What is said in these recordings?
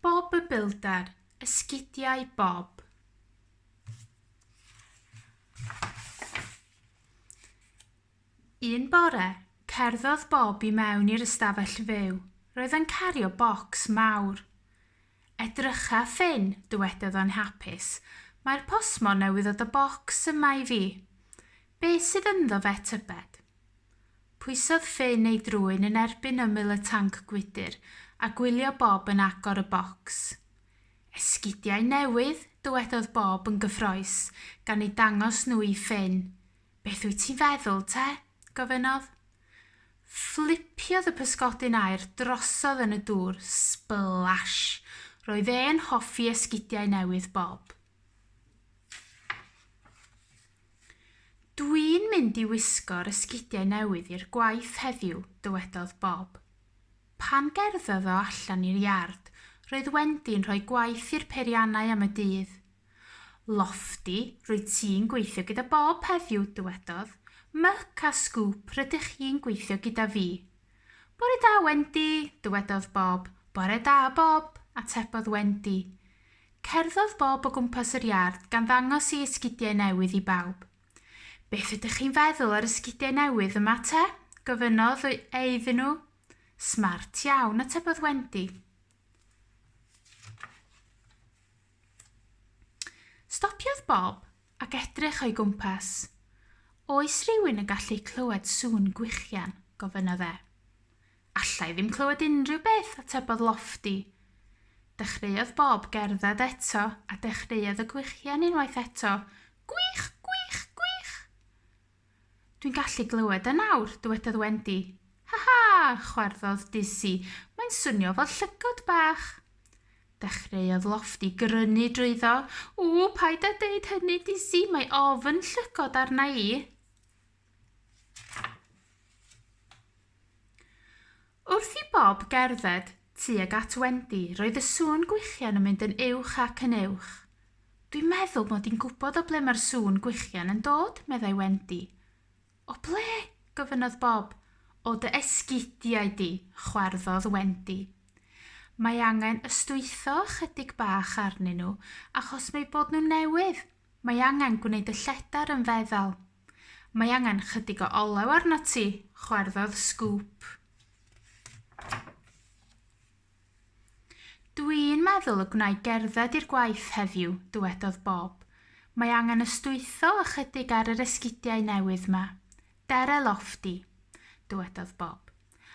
Bob y Builder, Esgidiau Bob. Un bore, cerddodd Bob i mewn i'r ystafell fyw. Roedd yn cario bocs mawr. Edrycha, Ffin, dywedodd o'n hapus, mae'r postmon newydd ddod â bocs yma i fi. Be sydd ynddo fe, tybed? Pwysodd Finn ei drwyn yn erbyn ymyl y tanc gwydr a gwylio Bob yn agor y bocs. Esgidiau newydd! dywedodd Bob yn gyffrous gan eu dangos nhw i Finn. Beth wyt ti'n feddwl, te? gofynnodd. Fflipiodd y pysgodyn aer drosodd yn y dŵr. Splash! Roedd e'n hoffi esgidiau newydd Bob. Dwi'n mynd i wisgo'r esgidiau newydd i'r gwaith heddiw, dywedodd Bob. Pan gerddodd o allan i'r iard, roedd Wendy'n rhoi gwaith i'r peiriannau am y dydd. Lofty, rwyt ti'n gweithio gyda Bob heddiw, dywedodd. Myc a Sgŵp, rydych chi'n gweithio gyda fi. Bore da, Wendy, dywedodd Bob. Bore da, Bob, atebodd Wendy. Cerddodd Bob o gwmpas yr iard gan ddangos ei esgidiau newydd i bawb. Beth ydych chi'n feddwl o'r esgidiau newydd yma te? gofynnodd e iddyn nhw. Smart iawn, atebodd Wendy. Stopiodd Bob ac edrych o'i gwmpas. Oes rhywun yn gallu clywed sŵn gwichian? gofynnodd e. Alla i ddim clywed unrhyw beth, atebodd Lofty. Dechreuodd Bob gerdded eto, a dechreuodd y gwichian unwaith eto. Gwych! Gwych! Gwych! Dwi'n gallu glywed e nawr, dywedodd Wendy. Ha ha! chwarddodd Dizzy. Mae'n swnio fel llygod bach. Dechreuodd Lofty grynu drwyddo. Ww, paid â deud hynny, Dizzy, mae ofn llygod arna i. Wrth i Bob gerdded tuag at Wendy, roedd y sŵn gwichian yn mynd yn uwch ac yn uwch. Dwi'n meddwl mod i'n gwybod o ble mae'r sŵn gwichian yn dod, meddai Wendy. O ble? gofynnodd Bob. O dy esgidiau di, chwarddodd Wendy. Mae angen ystwytho ychydig bach arnyn nhw achos m'eu bod nhw'n newydd. Mae angen gwneud y lledar yn feddal. Mae angen chydig o olew arnat ti, chwarddodd Sgŵp. Dwi'n meddwl y gwna'i gerdded i'r gwaith heddiw, dywedodd Bob. Mae angen ystwytho ychydig ar yr esgidiau newydd ma. Dere Lofty, dywedodd Bob,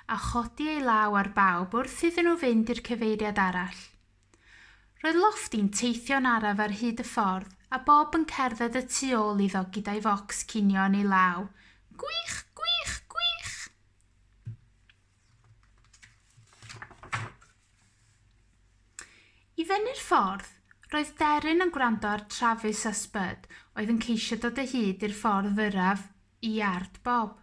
a chodi ei law ar bawb wrth iddyn nhw fynd i'r cyfeiriad arall. Roedd Lofty'n teithio'n araf ar hyd y ffordd, a Bob yn cerdded y tu ôl iddo gyda'i focs cinio yn ei law. Gwych! Gwych! Gwych! I fyny'r ffordd, roedd Deryn yn gwrando ar Travis a Spud oedd yn ceisio dod o hyd i'r ffordd fyrraf i iard Bob.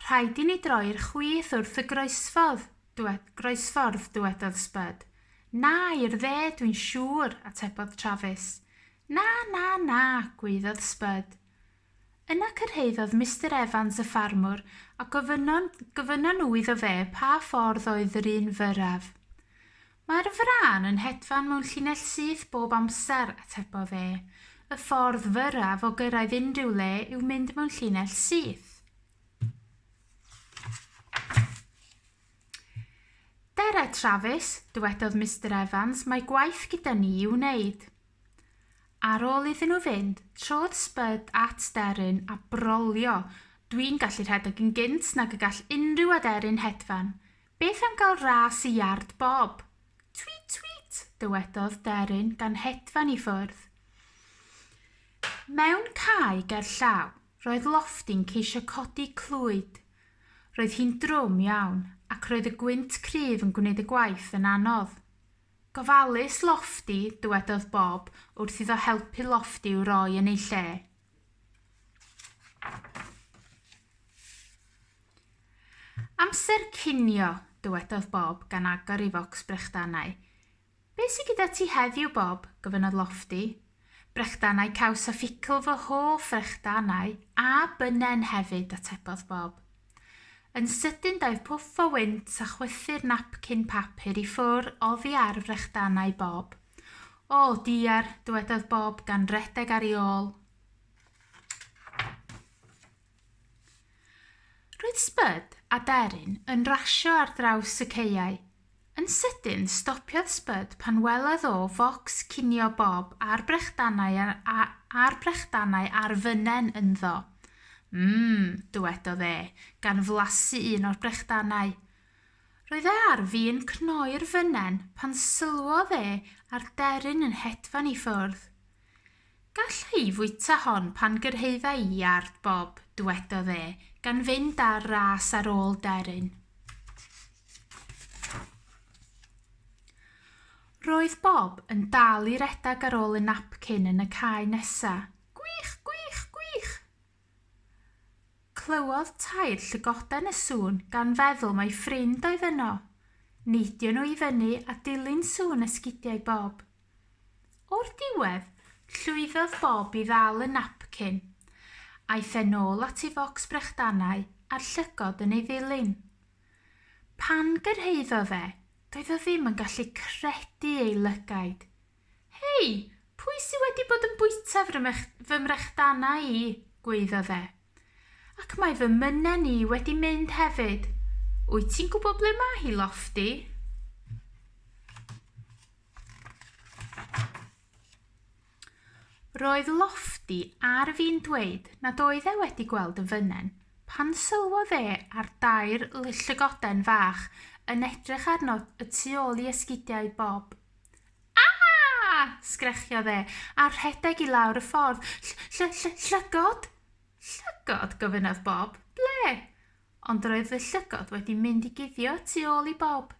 Rhaid i ni droi'r chwith wrth y groesffordd, dwe, groesffordd, dywedodd Spud. Na, i'r dde, dwi'n siŵr, atebodd Travis. Na, na, na, gwaeddodd Spud. Yna cyrhaeddodd Mister Evans y ffarmwr a gofynnon, gofynnon nhw iddo fe pa ffordd oedd yr un fyrraf. Mae'r frân yn hedfan mewn llinell syth bob amser, atebodd e. Y ffordd fyrraf o gyrraedd unrhyw le yw mynd mewn llinell syth. Dere, Travis, dywedodd Mister Evans, mae gwaith gyda ni i'w wneud. Ar ôl iddyn nhw fynd, trodd Spud at deryn a brolio. Dwi'n gallu rhedeg yn gynt nag y gall unrhyw aderyn hedfan, Beth am gael ras i iard Bob? Tweet tweet! dywedodd Deryn gan hedfan i ffwrdd. Mewn cae ger llaw, roedd Lofty'n ceisio codi clwyd. Roedd hi'n drwm iawn, ac roedd y gwynt cryf yn gwneud y gwaith yn anodd. Gofalus, Lofty, dywedodd Bob wrth iddo helpu Lofty i'w roi yn ei lle. Amser cinio, dywedodd Bob gan agor ei focs brechdanau. Be' sy gyda ti heddiw, Bob? gofynnodd Lofty. Brechdanau caws a ffitl, fy hoff frechdanau, a bynnen hefyd, atebodd Bob. Yn sydyn daeth pwff o wynt a chwythu'r napcyn papur i ffwr' oddi ar frechdanau Bob. O, diar, dywedodd Bob gan redeg ar ei ôl. Roedd Spud a Deryn yn rasio ar draws y caeau, Yn sydyn, stopiodd Spud pan welodd o focs cinio Bob a'r brechdanau a'r brechdanau a'r fynen ynddo. Mmm, dywedodd e, gan flasu un o'r brechdanau. Roedd e ar fin cnoi'r fynen pan sylwodd e ar deryn yn hedfan i ffwrdd. Galla i fwyta hon pan gyrhaedda i iard Bob, dwedodd e, gan fynd ar ras ar ôl Deryn. Roedd Bob yn dal i redag ar ôl y napcyn yn y cae nesa. Gwych, gwych, gwych! Clywodd tair llygoden y sŵn gan feddwl mai ffrind oedd yno. Neidio nhw i fyny a dilyn sŵn esgidiau Bob. O'r diwedd, llwyddodd Bob i ddal y napcyn. Aeth e'n ôl at ei focs brechdanau a'r llygod yn ei ddilyn. Pan gyrhaeddodd e, doedd o ddim yn gallu credu ei lygaid. Hei! Pwy sy wedi bod yn bwyta fy mrechdanau i? gwaeddodd e. Ac mae fy mynnen i wedi mynd hefyd! Wyt ti'n gwybod ble mae hi, Lofty? Roedd Lofty ar fin dweud nad oedd e wedi gweld y fynen, pan sylwodd e ar dair llygoden fach yn edrych arno y tu ôl i esgidiau Bob. Aa! sgrechiodd e, a rhedeg i lawr y ffordd. Ll-ll-ll-llygod? Llygod? gofynnodd Bob. Ble? Ond roedd fy llygod wedi mynd i guddio tu ôl i Bob.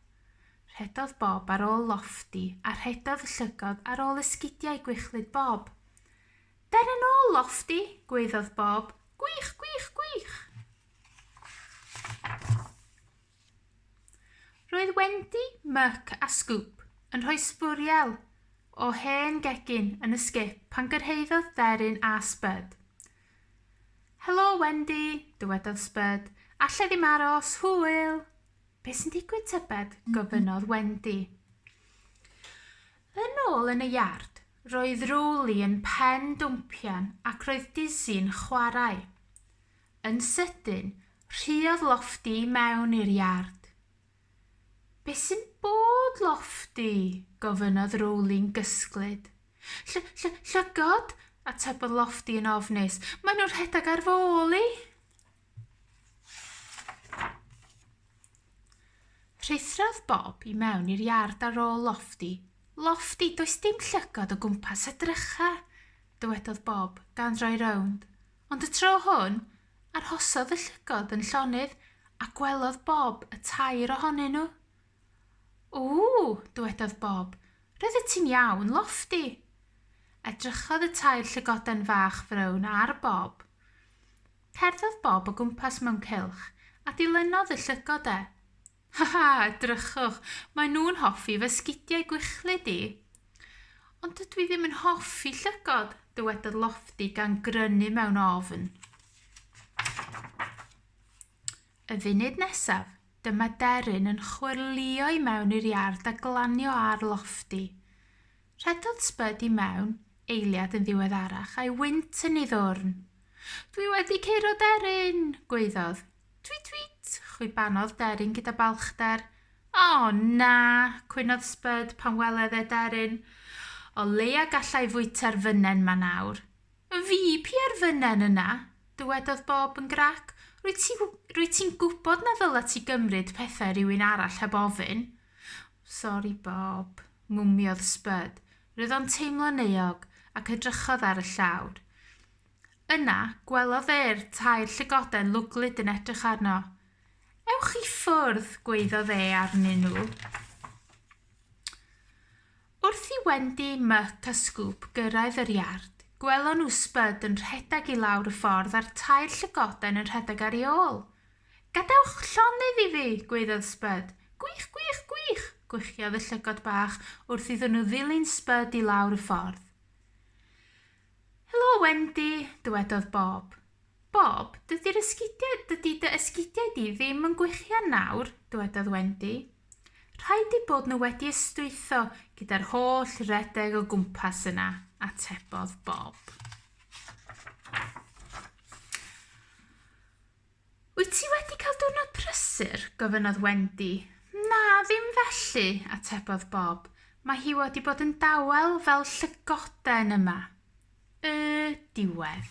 Rhedodd Bob ar ôl Lofty a rhedodd y llygod ar ôl esgidiau gwichlyd Bob. Der yn ôl, Lofty! gwaeddodd Bob. Gwych, gwych, gwych! Roedd Wendy, Muck a Scoop yn rhoi sbwriel o hen gegin yn y sgip pan gyrhaeddodd Deryn a Spud. Helo, Wendy, dywedodd Spud. Alla i ddim aros, hwyl! Be sy'n digwydd, tybed? gofynnodd Wendy. Yn ôl yn y iard, roedd Rowley yn pen dwmpian ac roedd Dizzy yn chwarae. Yn sydyn, rhuodd Lofty i mewn i'r iard. Be sy'n bod, Lofty? gofynnodd Rowling'n gysglyd. Lly, lly, llygod, atebodd Lofty yn ofnus. Maen nhw'n rhedeg ar fôl i. Rhuthrodd Bob i mewn i'r iard ar ôl Lofty. Lofty, does dim llygod o gwmpas y drychau, dywedodd Bob, gan roi rownd. Ond y tro hwn, Arhosodd y llygod yn llonydd a gwelodd Bob y tair ohonyn nhw. Ww! dywedodd Bob. Roeddet ti'n iawn, Lofty! Edrychodd y tair llygoden fach frown ar Bob. Cerddodd Bob o gwmpas mewn cylch a dilynodd y llygod e. Haha, drychwch, maen nhw'n hoffi fy sgidiau gwychlyd i. Ond dydw i ddim yn hoffi llygod, dywedodd Lofty gan grynu mewn ofn. Y funud nesaf, dyma deryn yn chwyrlio i mewn i'r iard a glanio ar Lofty. Rhedodd Spud i mewn, eiliad yn ddiweddarach, a'i wynt yn ei ddwrn. Dwi wedi curo deryn! gwaeddodd. Twît twît! chwibanodd Deryn gyda balchder. O, na! cwynodd Spud pan weled e Deryn. O leia gallai fwyta'r fynnen 'ma nawr. Fi? Pia'r fynnen yna! dywedodd Bob yn grac. Rwyt ti, rwyt ti'n gwybod na ddyla ti gymryd pethau rhywun arall heb ofyn. Sori, Bob, mwmiodd Spud. Roedd o'n teimlo'n euog, ac edrychodd ar y llawr. Yna, gwelodd e'r tair llygoden lwglyd yn edrych arno. Ewch i ffwrdd, gweiddodd e arnyn nhw. Wrth i Wendy, Muck a Scoop gyrraedd yr iard, gwelon nhw Spud yn rhedeg i lawr y ffordd a'r tair llygoden yn rhedeg ar ei ôl. Gadewch llonydd i fi, gweiddodd Spud. Gwych, gwych, gwych, gwychiodd y llygod bach wrth iddyn nhw ddilyn Spud i lawr y ffordd. Helo Wendy, dywedodd Bob. Bob, dydy'r esgidiau, dydy dy esgidiau di ddim yn gwichian nawr, dywedodd Wendy. Rhaid eu bod nhw wedi ystwytho gyda'r holl redeg o gwmpas yna, atebodd Bob. Wyt ti wedi cael diwrnod prysur? gofynnodd Wendy. Na, ddim felly, atebodd Bob. Mae hi wedi bod yn dawel fel llygoden yma. Y diwedd.